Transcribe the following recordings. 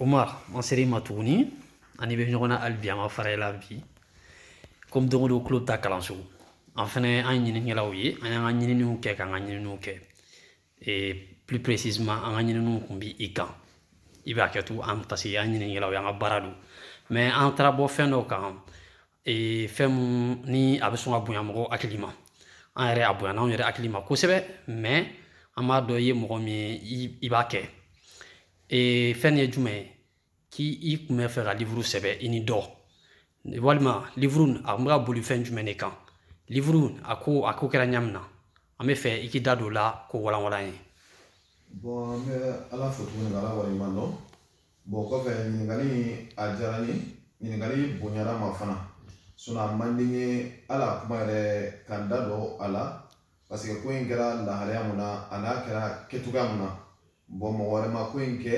Umar an ser'i ma tuguni an n'i bɛ ɲɔgɔn na hali bi an ma fara i la bi komi don o don tulo bɛ taa kalanso an fana an ye ɲininikɛlaw ye an y'an ka ɲininiw kɛ k'an ka ɲininiw kɛ ee plus précisément an ka ɲininiw tun b'i kan i bɛ hakɛto an parce que an ɲininikɛlaw y'an ka baara don mais an taara bɔ fɛn dɔ kan ee fɛn mun ni a bɛ sɔn ka bonya mɔgɔ hakili ma an yɛrɛ a bonya anw yɛrɛ hakili ma kosɛbɛ mɛ an b'a dɔn i ye mɔgɔ min ye i b'a kɛ ee fɛn ye jumɛn ye k'i kun bɛ fɛ ka livuru sɛbɛn i ni dɔ walima livuru a kun bɛ ka boli fɛn jumɛn de kan livuru a ko a ko kɛra ɲa min na an bɛ fɛ i k'i da don o la k'o walanwalan ye bɔn an bɛ ala fo tuguni ka ala waleɲuman dɔn bɔn kɔfɛ ɲininkali a diyara n ye ɲininkali bonyara n ma fana sinɔn a man di n ye hali a kuma yɛrɛ ka n da don a la paseke ko in kɛra lahalaya mun na a n'a kɛra kɛcogoya mun na bɔn mɔgɔ wɛrɛ ma ko in kɛ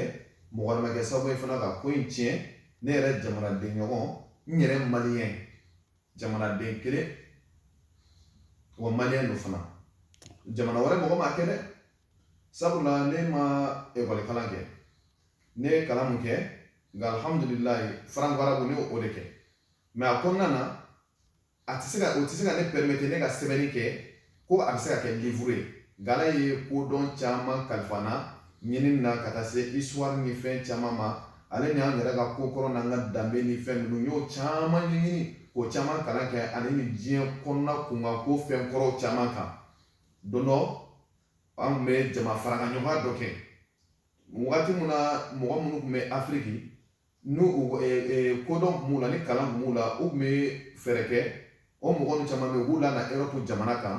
mɔgɔ wɛrɛ ma kɛ sababu ye fana ka ko in tiɲɛ ne yɛrɛ jamanaden ɲɔgɔn n yɛrɛ maliyɛn jamanaden kelen wa maliyɛn don fana jamana wɛrɛ mɔgɔ m'a kɛ dɛ sabula ne ma ekɔlikalan kɛ ne ye kalan mun kɛ nka alhamdulilayi faranko arabu ne o de kɛ mɛ a kɔnɔna na a tɛ se ka o tɛ se ka ne pɛrɛmete ne ka sɛbɛnni kɛ ko a bɛ se ka kɛ livuru ye nka ala ye kodɔn caman kalifa n na ɲinini na ka taa se isuwari ni fɛn caman ma ale ni an yɛrɛ ka ko kɔrɔ n'an ka danbe ni fɛn ninnu n y'o caman ɲɛɲini k'o caman kalan kɛ ani nin diɲɛ kɔnɔna kunkan ko fɛn kɔrɔw caman kan don dɔ an tun bɛ jama farakaɲɔgɔnya dɔ kɛ wagati mun na mɔgɔ minnu tun bɛ afiriki n'u kodɔn tun b'u la ni kalan tun b'u la u tun bɛ fɛɛrɛ kɛ o mɔgɔ ninnu caman bɛ yen u b'u lana erɔpu jamana kan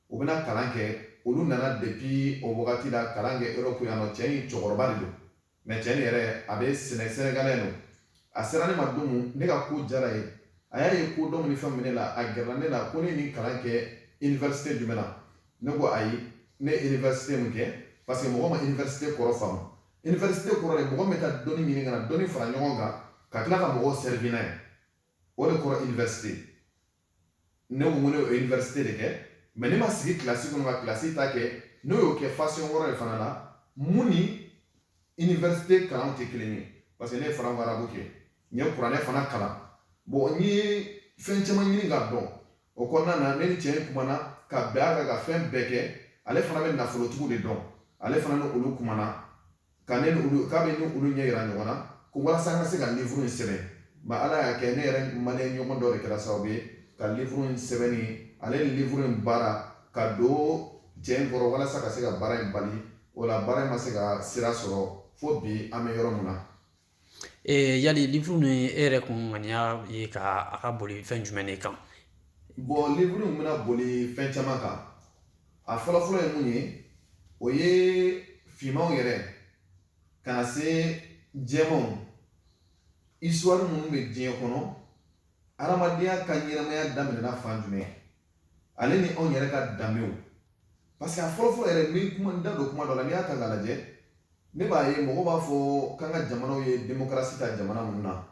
u bɛna kalan kɛ olu nana depi o wagati la kalan kɛ erɔpu yan nɔ cɛ in cɛkɔrɔba de don mɛ cɛ in yɛrɛ a bɛ sɛnɛ sɛnɛgalɛ don a sera ne ma don min ne ka ko diyara a ye a y'a ye kodɔn ni fɛn min ne la a gɛrɛla ne la ko ne ni kalan kɛ iniwɛrisite jumɛn na ne ko ayi ne ye université min kɛ parce que mɔgɔ ma université kɔrɔ faamu université kɔrɔ de mɔgɔ bɛ taa dɔnni ɲini ka na dɔnni fara ɲɔgɔn kan ka tila ka mɔgɔw servir n'a ye o de kɔrɔ université ne ko ne ye université de kɛ mɛ ne ma sigi kilasi kɔnɔ ka kilasi ta kɛ ne y'o kɛ fasɔn wɛrɛ de fana la mun ni université kalanw tɛ kelen ye parce que ne ye franco-arabe kɛ n ye kuranɛ fana kalan bɔn n ye fɛn caman ɲini k'a dɔn o kɔnɔna na ne ni cɛ in kumana ka bɛn a kan ka fɛn bɛɛ kɛ ale fana bɛ nafolotigiw de dɔn ale fana ni olu kumana ka ne ni olu k'a bɛ ni olu ɲɛ yira ɲɔgɔn na ko walasa an ka se ka livuru in sɛbɛn mɛ ala y'a kɛ ne yɛrɛ maliyɛn ɲɔgɔn dɔ de kɛra sababu ye ka livuru in sɛbɛnni ale ni livuru in baara ka don cɛ in kɔrɔ walasa ka se ka baara in bali o la baara in ma se ka sira sɔrɔ fo bi an bɛ yɔrɔ min na yali livuru nin e yɛrɛ kun ŋaniya ye ka a ka boli fɛn jumɛn de kan bɔn livuru in bɛna boli fɛn caman kan a fɔlɔfɔlɔ ye mun ye o ye finmanw yɛrɛ ka na se jɛmanw isituwari minnu bɛ diɲɛ kɔnɔ hadamadenya ka ɲɛnamaya daminɛna fan jumɛn ale ni anw yɛrɛ ka danbew parce que a fɔlɔfɔlɔ yɛrɛ n bɛ kuma n da don kuma dɔ la n'i y'a ta k'a lajɛ ne b'a ye mɔgɔw b'a fɔ k'an ka jamanaw ye demokarasi ta jamana minnu na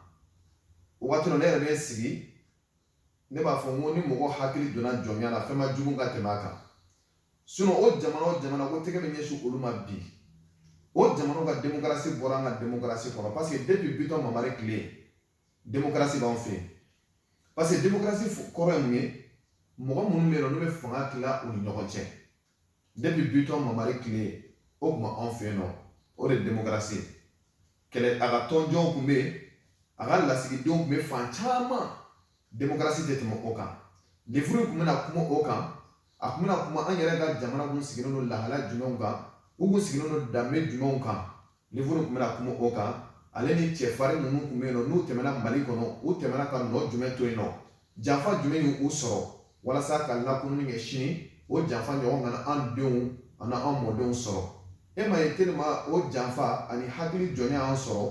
o waati la ne yɛrɛ bɛ sigi ne b'a fɔ n ko ni mɔgɔ hakili donna jɔnya la fɛn ma jugu ka tɛmɛ a kan sinon o jamana o jamana ko tɛgɛ bɛ ɲɛsin olu ma bi o jamanaw ka demokarasi bɔra an ka demokarasi kɔnɔ parce que depuis bitɔn mamari tile demokarasi b'anw fɛ yen parce que demokarasi kɔrɔ ye mun ye mɔgɔ minnu bɛ yen nɔ n'u bɛ fanga tila u ni ɲɔgɔn cɛ depi bitɔn mamari tile o tun b'anw fɛ yen nɔ o de ye demokarasi ye kɛlɛ a ka tɔnjɔnw tun bɛ yen a ka lasigidenw tun bɛ fan caman demokarasi tɛ tɛmɛ o kan livuru tun bɛna kuma o kan a tun bɛna kuma an yɛrɛ ka jamana kun sigilen don lahala jumɛnw kan u kun sigilen don danbe jumɛnw kan livuru tun bɛna kuma o kan ale ni cɛfarin minnu tun bɛ yen nɔ n'u tɛmɛna mali kɔnɔ u tɛmɛna ka nɔ jumɛn to yen nɔ janfa jumɛn y'u sɔrɔ walasa ka lakununi kɛ sini o janfa ɲɔgɔn kana an denw ani an mɔdenw sɔrɔ e m'a ye tellement o janfa ani hakili jɔnya y'an sɔrɔ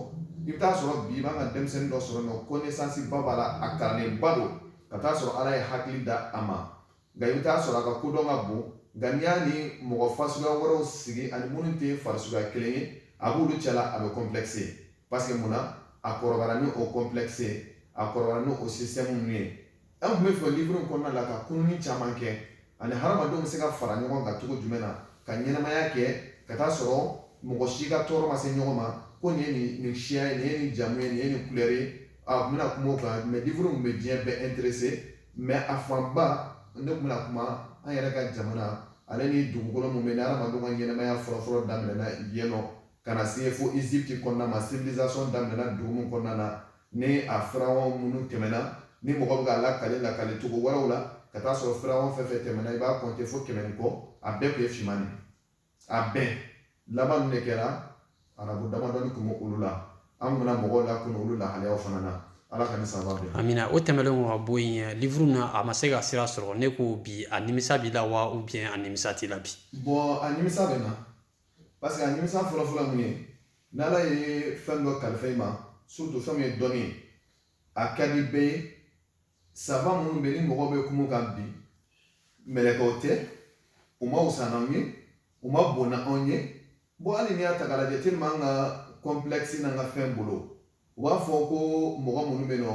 i bɛ taa sɔrɔ bi i b'an ka denmisɛnnin dɔ sɔrɔ nɔ kɔnɛsansi ba b'a la a kalanlenba don ka taa sɔrɔ ala ye hakili da a ma nka i bɛ taa sɔrɔ a ka kodɔn ka bon nka n'i y'a ni mɔgɔ fasuguya wɛrɛw sigi ani minnu tɛ farisuguya kelen ye a b'olu cɛla a bɛ kɔnplɛkise parce que mun na a kɔrɔbayara ni o kɔnplɛkise a kɔrɔbayara ni o sisitɛmu ninnu ye an tun b'a fɛ livre in kɔnɔna la ka kununi caman kɛ ani hadamadenw bɛ se ka fara ɲɔgɔn kan cogo jumɛn na ka ɲɛnamaya kɛ ka taa sɔrɔ mɔgɔ si ka tɔɔrɔ ma se ɲɔgɔn ma ko nin ye nin nin siya ye nin ye nin jamu ye nin ye nin kulɛri ye a tun bɛna kuma o kan mais livre in tun bɛ diɲɛ bɛɛ intéresser mɛ a fanba ne tun bɛna kuma an yɛrɛ ka jamana ale ni dugukolo min bɛ ni adamadenw ka ɲɛnamaya fɔlɔfɔlɔ daminɛna yen nɔ ka na se fo Egypte kɔnɔna ma civilisation daminɛna dugu min kɔnɔna na ni a firawɔn minnu tɛmɛna ni mɔgɔ bɛ k'a lakale lakale cogo wɛrɛw la ka taa sɔrɔ firawɔn fɛn o fɛn tɛmɛna i b'a kɔnte fo kɛmɛ ni kɔ a bɛɛ tun ye finman de a bɛɛ laban min de kɛra arabu damadɔni tun bɛ olu la an bɛna mɔgɔw lakunu olu lahalayaw fana na ala ka ni saba bɛn amina o tɛmɛnlen ka bɔ yen livuru na a ma se ka sira sɔrɔ ne ko bi a nimisa b'i la wa ou bien a nimisa t'i la bi bon a nimisa bɛ n na parce que a nimisa fɔlɔfɔlɔ min ye n'ala ye fɛn dɔ kalifa i ma surtout fɛn min ye dɔnni ye a ka di bɛɛ ye savant minnu bɛ ni mɔgɔ bɛ kuma u kan bi mɛlɛkɛw tɛ u man wusa n'anw ye u man bon n'anw ye bon hali n'i y'a ta k'a lajɛ tellement an ka kɔnpilɛkisi n'an ka fɛn bolo u b'a fɔ ko mɔgɔ minnu bɛ nɔ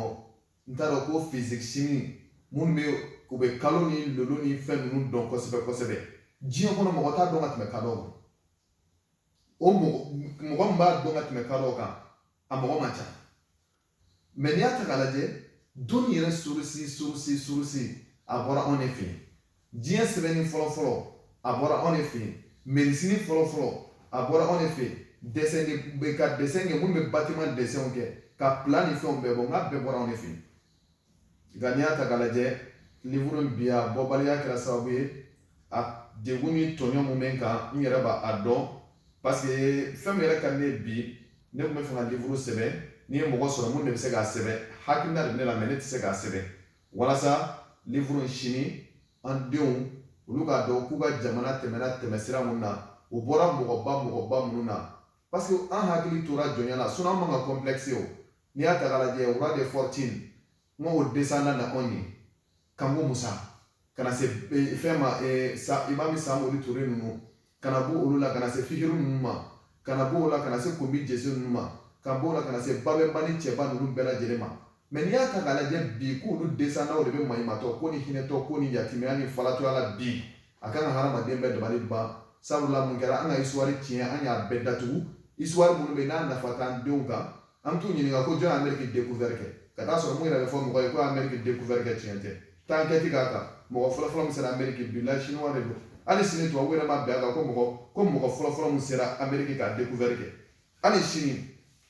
n t'a dɔn ko fizikisini minnu bɛ u bɛ kalo ni lolo ni fɛn ninnu dɔn kosɛbɛ kosɛbɛ diɲɛ kɔnɔ mɔgɔ t'a dɔn ka tɛmɛ kadɔw kan o mɔgɔ min b'a dɔn ka tɛmɛ kadɔw kan a mɔgɔ man ca mais n'i y'a ta k'a lajɛ dɔnni yɛrɛ sorusi sorusi sorusi a bɔra anw de fɛ yen diɲɛ sɛbɛnni fɔlɔfɔlɔ a bɔra anw de fɛ yen mɛdisini fɔlɔfɔlɔ a bɔra anw de fɛ yen dɛsɛn ka dɛsɛn kɛ minnu bɛ batiman dɛsɛnw kɛ ka plan ni fɛnw bɛɛ bɔ n k'a bɛɛ bɔra anw de fɛ nka n'i y'a ta k'a lajɛ livuru in bi a bɔbaliya kɛra sababu ye a degun ni tɔɲɔ min bɛ n kan n yɛrɛ b'a a dɔn parce que fɛn min yɛrɛ ka ne bi ne tun b'a fɛ ka livuru sɛbɛn n'i ye mɔgɔ sɔrɔ min de bɛ se k'a sɛbɛn hakilina de bɛ ne la mais ne tɛ se k'a sɛbɛn walasa livuru in sini an denw olu k'a dɔn k'u ka jamana tɛmɛna tɛmɛsira min na u bɔra mɔgɔba mɔgɔba minnu na parce que an hakili tora jɔnya la sinon an man ka kɔnplɛkisi o n'i y'a ta k'a lajɛ roi de fortune n'o o desanda na anw ye kanko musa ka na se e, fɛn ma e, sa imami samori ture ninnu ka na bɔ olu la ka na se fihiru ninnu ma ka na bɔ o la ka na se kunbi jese ninnu ma ka bɔ o la ka na se babɛnba ni cɛba ninnu bɛɛ lajɛlen ma mais n'i y'a ta k'a lajɛ bi k'olu desandaw de bɛ maɲumatɔ ko ni hinɛtɔ ko ni yatimɛya ni falatɔya la bi a kan ka hadamaden bɛɛ dabali ban sabula mun kɛra an ka isuwari tiɲɛ an y'a bɛɛ datugu isuwari minnu bɛ n'a nafa t'an denw kan an t'u ɲininka ko jɔn ye ameriki dekuvɛri kɛ ka t'a sɔrɔ min yɛrɛ bɛ fɔ mɔgɔ ye ko ameriki dekuvɛri kɛ tiɲɛ tɛ taa enquête k'a kan mɔgɔ fɔlɔfɔlɔ min sera ameriki bilahi chinois de don hali sini tubabu yɛrɛ ma bɛn a kan ko mɔgɔ ko mɔgɔ fɔlɔfɔlɔ min sera ameriki k'a dekuvɛri kɛ hali sini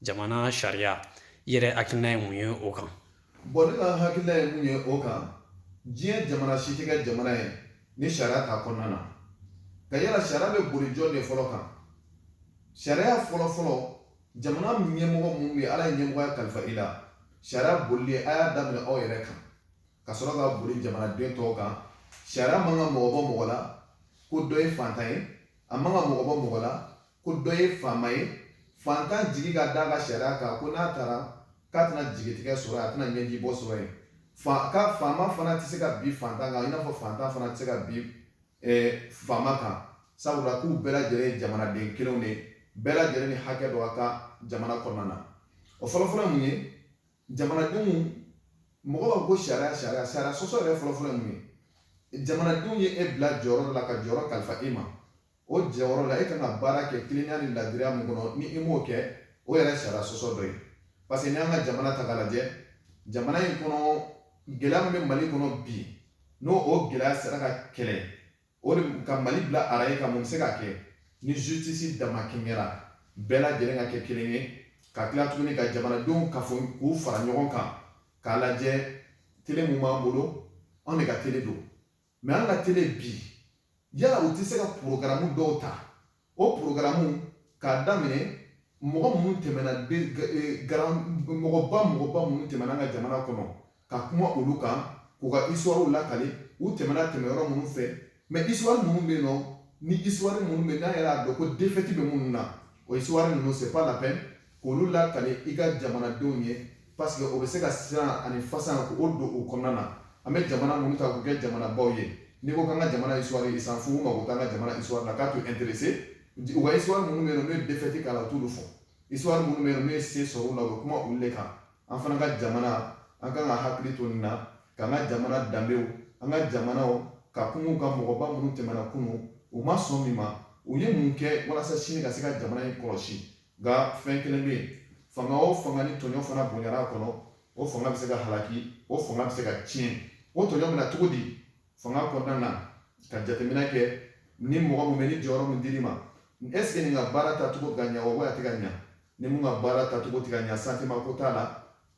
jamana sariya i yɛrɛ hakilina ye mun ye o kan bon ne ka hakilina ye mun ye o kan diɲɛ jamana si tɛ kɛ jamana ye ni sariya t'a kɔnɔna na ka yala sariya bɛ boli jɔn de fɔlɔ kan sariya fɔlɔ fɔlɔ jamana ɲɛmɔgɔ minnu ye ala ye ɲɛmɔgɔya kalifa i la sariya bolili a y'a daminɛ aw yɛrɛ kan ka sɔrɔ ka boli jamanaden tɔw kan sariya man ka mɔgɔ bɔ mɔgɔ la ko dɔ ye fantan ye a man ka mɔgɔ bɔ mɔgɔ la ko dɔ ye faama ye fantan jigi ka da ka sariya kan ko n'a taara k'a tɛna jigitigɛ sɔrɔ a tɛna ɲɛji bɔ sɔrɔ yen fa ka faama fana tɛ se ka bin fantan kan i n'a fɔ fantan fana tɛ se ka bin eh, faama kan sabula k'u bɛɛ lajɛlen ye jamanaden kelenw de bɛɛ lajɛlen ni hakɛ dɔ ka kan jamana kɔnɔna na o fɔlɔfɔlɔ mun ye jamanadenw mɔgɔ b'a fɔ ko sariya sariya sariya sɔsɔ yɛrɛ fɔlɔfɔlɔ ye mun ye jamanadenw ye e bila jɔyɔrɔ la ka jɔyɔrɔ kalifa e ma o jɔyɔrɔ la e ka kan ka baara kɛ tilennenya ni ladiriya min kɔnɔ ni i m'o kɛ o yɛrɛ sariya sɔsɔ dɔ ye parce que n'i y'an ka jamana ta k'a lajɛ jamana in kɔnɔ gɛlɛya min bɛ mali kɔnɔ bi n'o o gɛlɛya sera ka kɛlɛ o de ka mali bila arayi kan mun bɛ se ka kɛ ni justice damakɛɲɛra bɛɛ lajɛlen ka kɛ kelen ye ka tila tuguni ka jamanadenw kafo k'u fara ɲɔgɔn kan k'a lajɛ tele min b'an bolo anw de ka tele don mɛ an ka tele bi yala u tɛ se ka porogaramu dɔw ta o porogaramu k'a daminɛ mɔgɔ minnu tɛmɛna eh, mɔgɔba mɔgɔba minnu tɛmɛna an ka jamana kɔnɔ ka kuma olu kan k'u ka isuwariw lakali u tɛmɛna tɛmɛyɔrɔ minnu fɛ mɛ isuwari minnu bɛ yen nɔ ni isuwari minnu bɛ n'an yɛrɛ y'a dɔn ko defɛti bɛ minnu na o isuwari ninnu c'est pas la peine k'olu lakale i ka jamanadenw ye parce que o bɛ se ka siran ani fasan k'o don u kɔnɔna na an bɛ jamana minnu ta k'u kɛ jamanabaw ye n'i ko k'an ka jamana histoire i s'en fout mago t'an ka jamana histoire la k'a t'u intéressé u ka histoire minnu bɛ yen nɔ n'u ye défaite k'a la u t'olu fɔ histoire minnu bɛ yen nɔ n'u ye se sɔrɔ u la u bɛ kuma olu de kan an fana ka jamana an kan ka hakili to nin na k'an ka jamana danbew an ka jamanaw ka kunun ka mɔgɔba minnu tɛmɛna kunun u ma sɔn min ma u ye mun kɛ walasa sini ka se ka jamana in kɔlɔsi nka fɛn kelen bɛ yen fanga o fanga ni tɔɲɔ fana bonyana a kɔnɔ o fanga bɛ se ka halaki o fanga bɛ se ka tiɲɛ o tɔɲɔ bɛ na cogo di fanga kɔnɔna na ka jateminɛ kɛ ni mɔgɔ min bɛ ni jɔyɔrɔ min dir'i ma est-ce que nin ka baara tacogo ka ɲa wa a tɛ ka ɲa ni mun ka baara tacogo tɛ ka ɲa santiman ko t'a la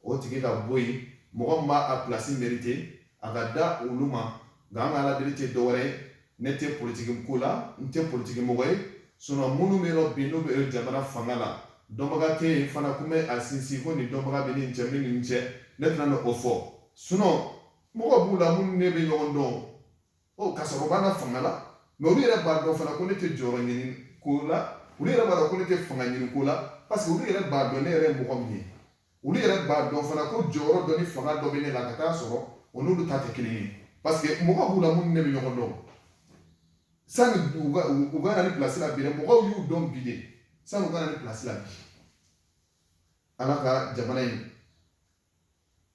o tigi ka bɔ yen mɔgɔ min b'a a pilasi merite a ka da olu ma nka an ka ala deli tɛ dɔwɛrɛ ye ne tɛ politiki ko la n tɛ politiki mɔgɔ ye sinɔn minnu bɛ yen nɔ bi n'u bɛ jamana fanga la dɔnbaga tɛ yen fana ko n bɛ a sinsin ko nin dɔnbaga bɛ nin cɛ min nin cɛ ne tɛna o fɔ sinɔn mɔgɔ b'u la minnu ne bɛ ɲɔgɔn dɔn ɔ ka sɔrɔ u b'an ka fanga la mɛ olu yɛrɛ b'a dɔn fana ko ne tɛ jɔyɔrɔ ɲini ko la olu yɛrɛ b'a dɔn ko ne tɛ fanga ɲini ko la parce que olu yɛrɛ b'a dɔn ne yɛrɛ ye mɔgɔ min ye olu yɛrɛ b'a dɔn fana ko jɔyɔrɔ dɔ ni fanga dɔ bɛ ne la ka taa sɔrɔ o n'olu ta tɛ kelen ye parce que mɔgɔ b'u la minnu ne bɛ ɲɔgɔn dɔn sani u ka u ka na nin pilasi la bi dɛ mɔgɔw y'u dɔn bi de sani u ka na nin pilasi la bi ala ka jamana in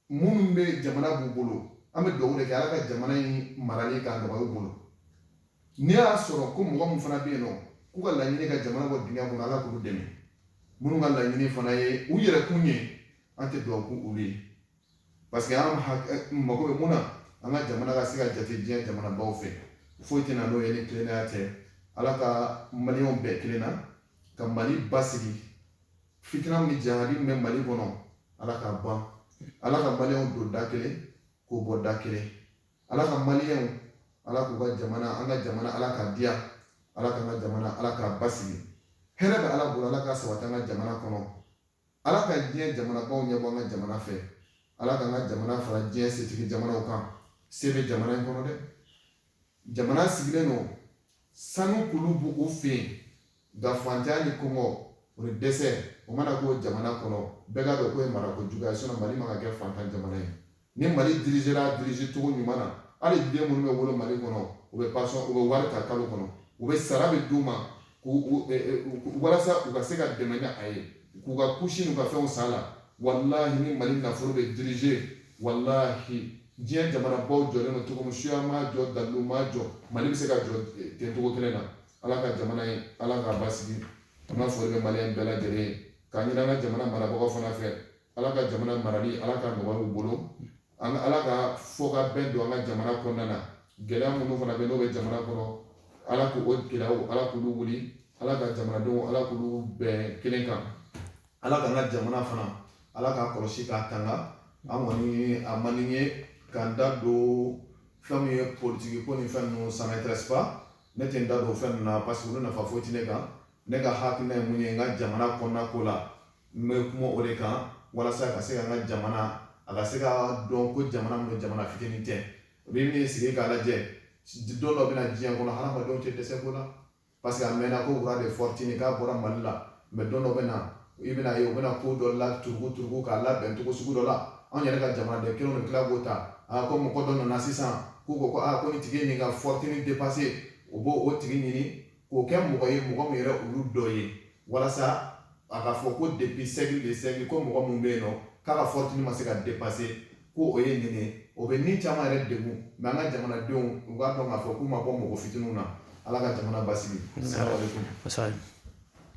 minnu bɛ jamana b'u bolo an bɛ dugawu de kɛ ala ka jamana in marali k'a nɔgɔya u bolo n'i y'a sɔrɔ ko mɔgɔ min fana bɛ yen nɔ k'u ka laɲini ka jamana bɔ dingɛ kɔnɔ ala k'u dɛmɛ minnu ka laɲini fana ye u yɛrɛ kun ye an tɛ dugawu k'olu ye parce que an mago bɛ mun na an ka jamana ka se ka jate diɲɛ jamanabaw fɛ foyi tɛ na n'o ye ni tilennenya tɛ ala ka maliyɛnw bɛɛ kelen na ka mali basigi fitina ni jahadi min bɛ mali kɔnɔ ala k'a ban ala ka maliyɛnw don da kelen k'u bɔ da kelen ala ka maliyɛnw ala k'u ka jamana an ka jamana ala k'a diya ala k'an ka jamana ala k'a basigi hɛrɛ bɛ ala bolo ala k'a sabati an ka jamana kɔnɔ ala ka diɲɛ jamanabaw ɲɛbɔ an ka jamana fɛ ala k'an ka jamana fara diɲɛ setigi jamanaw kan se bɛ jamana in kɔnɔ dɛ jamana sigilen don sanu kulu b'u fɛ yen nka fantanya ni kɔngɔ o ni dɛsɛ o mana k'o jamana kɔnɔ bɛɛ k'a dɔn k'o ye marako juguya ye sinɔn mali man ka kɛ fantan jamana ye ni mali dirigera dirige cogo ɲuman na hali den minnu bɛ wolo mali kɔnɔ u bɛ pasɔn u bɛ wari ta kalo kɔnɔ u bɛ sara bɛ d'u ma walasa u ka se ka dɛmɛ ni a ye k'u ka kusi n'u ka fɛnw san a la walahi ni mali nafolo bɛ dirige walahi diɲɛ jamanabaw jɔlen don cogo min suya m'a jɔ dalu m'a jɔ mali bɛ se ka jɔ eh, ten cogo kelen na ala ka jamana ye ala k'a basigi an ka foli bɛ maliyɛn bɛɛ lajɛlen ye k'a ɲini an ka jamana marabagaw fana fɛ ala ka jamana marali ala k'a nɔgɔya u bolo ala ka fɔ ka bɛn don an ka jamana kɔnɔna na gɛlɛya minnu fana bɛ n'o bɛ jamana kɔnɔ ala k'o gɛlɛyaw ala k'olu wuli ala ka jamanadenw ala k'olu bɛn kelen kan ala k'an ka jamana fana ala k'a kɔlɔsi k'a tanga an kɔni a man di n ye k'an da don fɛn min ye politiki ko ni fɛn ninnu ça m'intéresse pas ne tɛ n da don fɛn ninnu na parce que olu nafa foyi tɛ ne kan ne ka hakilina ye mun ye n ka jamana kɔnɔna ko la N bɛ kuma o de kan walasa ka se ka n ka jamana a ka se ka dɔn ko jamana min don jamana fitinin tɛ u bɛ min sigi k'a lajɛ don dɔ bɛna diɲɛ kɔnɔ hadamadenw tɛ dɛsɛ ko la parce que a mɛnna ko roi de fortune k'a bɔra mali la mais don dɔ bɛ na i bɛn'a ye u bɛna ko dɔ la turuku k'a labɛn cogo sugu dɔ la anw yɛrɛ ka jamanaden kelen tila k'o ta a ko mɔgɔ dɔ nana sisan k'u ko ko aa ko nin tigi ye nin ka fortune dépasser u b'o o tigi ɲini k'o kɛ mɔgɔ ye mɔgɔ min yɛrɛ olu dɔ ye walasa a ka fɔ ko depuis siècle de siècle ko mɔgɔ min bɛ yen nɔ k'a ka fortune ma se ka dépasser ko o ye nin ye o bɛ ni caman yɛrɛ degun mais an ka jamanadenw u k'a dɔn k'a fɔ k'u ma bɔ mɔgɔ fitininw na Ala ka jamana basigi.